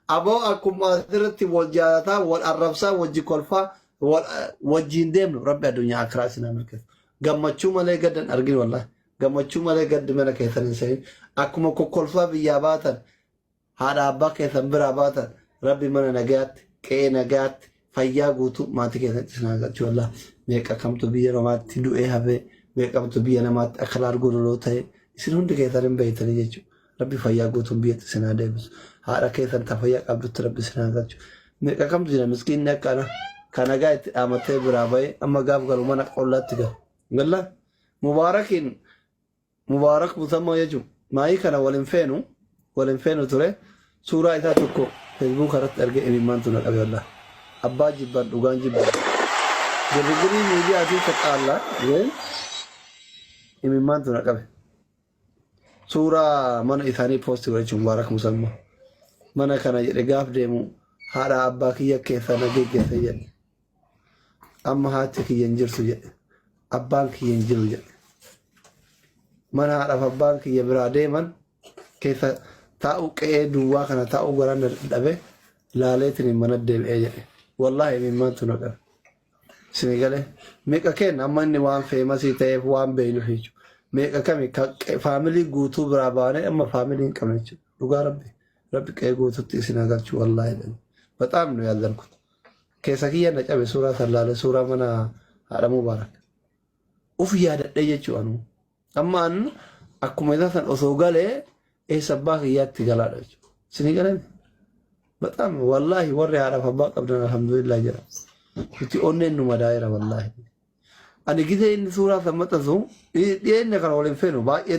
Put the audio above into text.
Aboo akkuma asirratti wal jaalataa, wal arrabsaa, wajji kolfaa, wal- wajjiin deemnu rabbi addunyaa akiraa isin haa milkeessu. Gammachuu malee gadda hin argin wallahi. Gammachuu malee gaddi mana keessan hin seenin. Akkuma kokkolfaa biyyaa baatan haadha abbaa keessan biraa baatan rabbi mana nagayaatti, qe'ee nagayaatti, fayyaa guutuu maatii keessatti isin haa galchu wallah meeqa kamtu biyya namaatti du'ee hafee meeqamtu biyya namaatti akka laargoo loloo ta'e isin hundi keessan hin beeytanii jechuudha. Rabbi fayyaa guutuun biyyatti isin haa deebisu. Haadha keessan ta fayyaa qabdutti rabbi isin haa galchu. Meeqa kamtu jira miskiinni akkana kan nagaa itti dhaamatee biraa ba'ee amma gaaf galu mana qollaatti galu. Galla mubaarakiin Mubaarak Musammoo jechuun maayii kana wal hin feenu wal hin feenu ture suuraa isaa tokko feesbuuka irratti argee imimmaantu na qabe wallah abbaa jibban dhugaan jibba girgirii miidiyaa fi saxaalla ween imimmaantu na qabe suuraa mana isaanii poosti godhe jechuun Mubaarak Musammoo mana kana jedhe gaaf deemu haadha abbaa kiyya keessa na geggeessa jedhe amma haati kiyya hin jirtu jedhe abbaan kiyya hin jiru jedhe mana haadhaaf abbaan kiyya biraa deeman keessa taa'u qe'ee duwwaa kana taa'u garaan na dhabe laaleetiin hin mana deebi'ee jedhe wallaahi mimmaantu na qabe sini galee meeqa kenna amma inni waan feemasii ta'eef waan beeynu jechu meeqa kami ka qe- faamilii guutuu biraa baanee amma faamilii hin qabne jechuudha dhugaa rabbi rabbi qe'ee guututti isin haa galchu wallaahi jedhani baxaam nu yaallan kutu Keessa kiyya na cabe suuraa san laale suuraa mana haadha Mubaarak. Uf yaadadhee jechuu anuu. Amma an akkuma isaa san osoo galee eessa abbaa kiyyaatti galaadha jechuudha. Isinii galee baxaam wallaahi warri haadhaaf abbaa qabdan alhamdulillah jedha. Nuti onneen nu madaa'eera wallaahi. Ani gisee inni suuraa san maxxansu dhiyeenya kana waliin feenu baay'ee